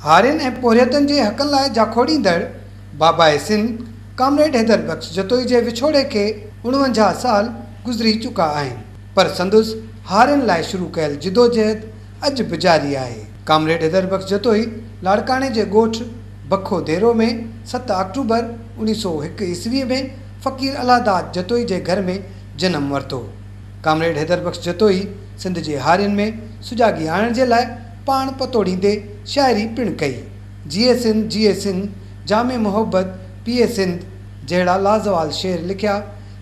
هارين ۽ پورهيتن جي حقن لاء جاکوڙيندڙ باباء سنڌ ڪامريڊ حيدر بخش جتوئي جي وڇوڙي کي اڻونجاهه سال گذري چڪا آهن پر سندس هارين لاء شروع ڪيل جدوجهد اڄ به جاري آهي ڪامريڊ حيدر بخش جتوئي لاڙڪاڻي جي ڳوٺ بکو ديرو ۾ ست آڪٽوبر اوڻيهه سؤ هڪ عيسوي ۾ فقير الله داد جتوئي جي گهر ۾ جنم ورتو ڪامريڊ حيدر بخش جتوئي سنڌ جي هارين ۾ سجاڳي آڻڻ جي لاء پاڻ پتوڙيندي شاعري پڻ ڪئي. جيئي سنڌ جيئي سنڌ، جام محبت پيئي سنڌ جهڙا لازوال شعر لکيا،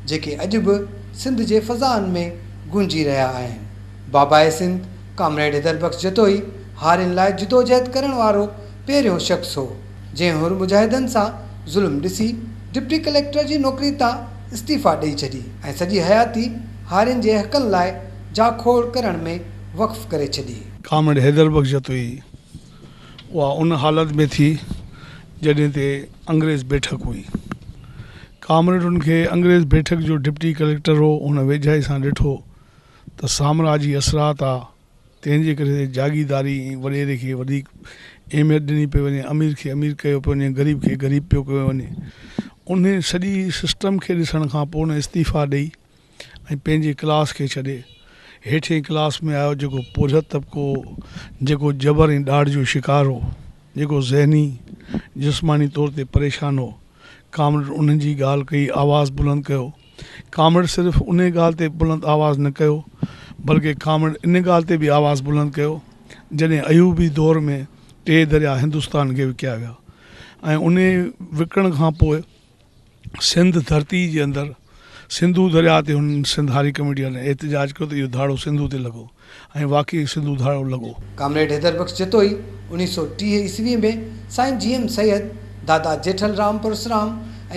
جيڪي اڄ به سنڌ جي فضائن ۾ گونجي رهيا آهن. بابائي سنڌ ڪامريڊ حيدر بخش جتوئي هارين لاء جدوجهد ڪرڻ وارو پهريون شخص هو، جنهن حر مجاهدن سان ظلم ڏسي ڊپٽي ڪليڪٽر جي نوڪري تان استعيفيٰ ڏئي ڇڏي ۽ سڄي حياتي هارين جي حقن لاء جاکوڙ ڪرڻ ۾ وقف ڪري ڇڏي. ڪامريڊ حيدر بخش جتوئي اها ان حالت ۾ ٿي جڏهن تي انگريز بيٺڪ هئي. ڪامريڊ ان کي انگريز بيٺڪ جو ڊپٽي ڪليڪٽر هو هن ويجهائي سان ڏٺو ته سامراجي اثرات آ تنهن جي ڪري جاگيرداري ۽ وڏيري کي وڌيڪ اهميت ڏني پئي وڃي امير کي امير ڪيو پيو وڃي غريب کي غريب پيو ڪيو وڃي انهي سڄي سسٽم کي ڏسڻ کان پوء هن استعيفا ڏئي ۽ پنهنجي ڪلاس کي ڇڏي هيٺين ڪلاس ۾ آيو جيڪو پورهيت طبقو هو جيڪو جبر ۽ ڏاڍ جو شڪار هو جيڪو ذهني جسماني طور تي پريشان هو ڪامريڊ انهن جي ڳالهه ڪئي آواز بلند ڪيو ڪامريڊ صرف انهي ڳالهه تي بلند آواز نه ڪيو بلڪه ڪامريڊ ان ڳالهه تي به آواز بلند ڪيو جڏهن ايوبي دور ۾ ٽي دريا هندستان کي وڪيا ويا ۽ انهي وڪڻ کان پوء سنڌ ڌرتي جي اندر سنڌو درياء تي هن سنڌ هاري ڪميٽيء وارن احتجاج ڪيو ته اهو ڌاڙو سنڌو تي لڳو ۽ واقعي سنڌو ڌاڙو لڳو. ڪامريڊ حيدر بخش جتوئي اوڻيهه سؤ ٽيهه عيسويء ۾ سائين جي ايم سيد، دادا جيٺل رام پرسرام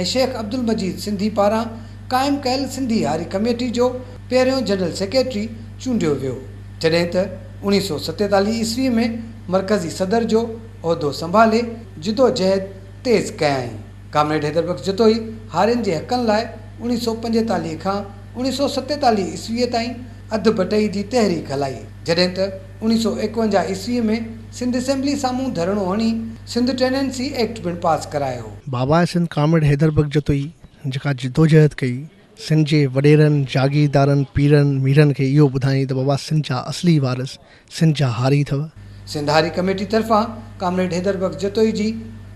۽ شيخ عبدالمجيد سنڌي پاران قائم ڪيل سنڌي هاري ڪميٽي جو پهريون جنرل سيڪريٽري چونڊيو ويو، جڏهن ته اوڻيهه سؤ ستيتاليهه عيسويء ۾ مرڪزي صدر جو عهدو سنڀالي جدوجهد تيز ڪيائين. ڪامريڊ حيدر بخش جتوئي هارين جي حقن لاء اوڻيھ سؤ پنجيتاليھ کان اوڻيھ سؤ ستيتاليھ عيسويء تائين اڌ بٽئي جي تحريڪ هلائي، جڏهن ته اوڻيھ سؤ ايڪونجاھ عيسويء ۾ سنڌ اسيمبليء سامهون ڌرڻو هڻي سنڌ ٽينينسي ايڪٽ پڻ پاس ڪرايو. بابائي سنڌ ڪامريڊ حيدر بخش جتوئي جيڪا جدوجهد ڪئي، سنڌ جي وڏيرن، جاگيردارن، پيرن، ميرن کي اهو ٻڌائين ته بابا سنڌ جا اصلي وارث سنڌ جا هاري اٿو. سنڌ هاري ڪميٽي طرفان ڪامريڊ حيدر بخش جتوئي جي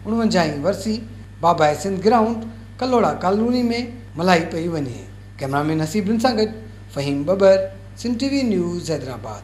اڻونجاهه هين ورسي بابائي سنڌ گرائونڊ ڪلهوڙا ڪالوني ۾ ملهائي پئي وڃي. ڪئمرامين حسيب بن سان گڏ فهيم ٻٻر، Sindh T V news Hyderabad.